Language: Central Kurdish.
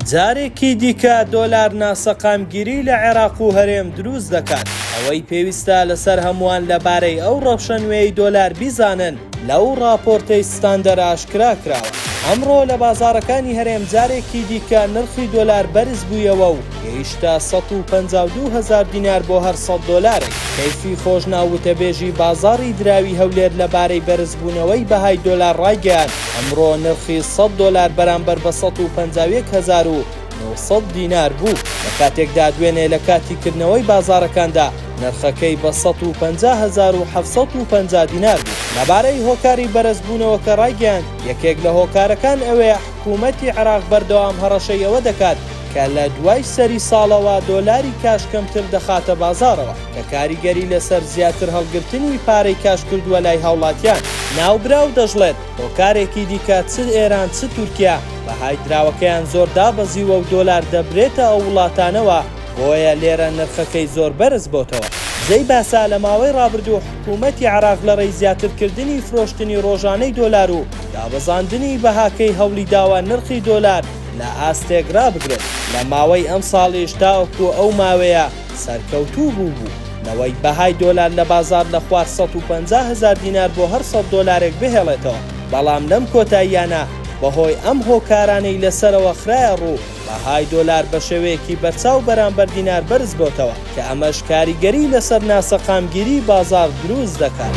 جارێکی دیکە دۆلار ناسەقامگیری لە عێراق و هەرێم دروست دەکات. ئەوەی پێویستە لەسەر هەمووان لەبارەی ئەو ڕەوشە نوێی دۆلار بیزانن، لەو ڕاپۆرتەی ستاندەر ئاشکرا کراوە. ئەمڕۆ لە بازاڕەکانی هەرێم جارێکی دیکە نرخی دۆلار بەرز بوویەوە و گەیشتە سەد و پەنجا و دوو هەزار دینار بۆ هەر سەد دۆلارێک. کەیفی خۆشناو وتەبێژی بازاڕی دراوی هەولێر لەبارەی بەرزبوونەوەی بەهای دۆلار ڕایگەیاند، ئەمڕۆ نرخی سەد دۆلار بەرامبەر بە سەد و پەنجا و یەک هەزار و نۆ سەد دینار بوو، لە کاتێکدا دوێنێ لە کاتی کردنەوەی بازاڕەکاندا نرخەکەی بە سەد و پەنجا هەزار و حەفت سەد و پەنجا دینار بوو. لەبارەی هۆکاری بەرزبوونەوەکە ڕایگەیاند، یەکێک لە هۆکارەکان ئەوەیە حکومەتی عێراق بەردەوام هەڕەشەی ئەوە دەکات کە لە دوای سەری ساڵەوە دۆلاری کاش کەمتر دەخاتە بازاڕەوە، کە کاریگەری لەسەر زیاتر هەڵگرتنی پارەی کاش کردووە لای هاوڵاتیان. ناوبراو دەشڵێت، هۆکارێکی دیکە چ ئێران چ تورکیا بەهای دراوەکەیان زۆر دابەزیوە و دۆلار دەبرێتە ئەو وڵاتانەوە، بۆیە لێرە نرخەکەی زۆر بەرز بۆتەوە. جێی باسە لە ماوەی ڕابردوو حکوومەتی عێراق لە ڕێی زیاتر کردنی فرۆشتنی ڕۆژانەی دۆلار و دابەزاندنی بەهاکەی هەوڵی داوە نرخی دۆلار لە ئاستێک ڕابگرێت، لە ماوەی ئەمساڵیش تاوەکوو ئەو ماوەیە، سەرکەوتوو بوو بوو نەوەی بەهای دۆلار لە بازار لە خوار سەد و پەنجا هەزار دینار بۆ هەر سەد دۆلارێک بهێڵێتەوە بەڵام لەم کۆتاییانە بەهۆی ئەم هۆکارانەی لە سەرەوە خرایە ڕوو بەهای دۆلار بە شێوەیەکی بەرچاو بەرامبەر دینار بەرز بۆتەوە کە ئەمەش کاریگەری لەسەر ناسەقامگیری بازار دروست دەکات.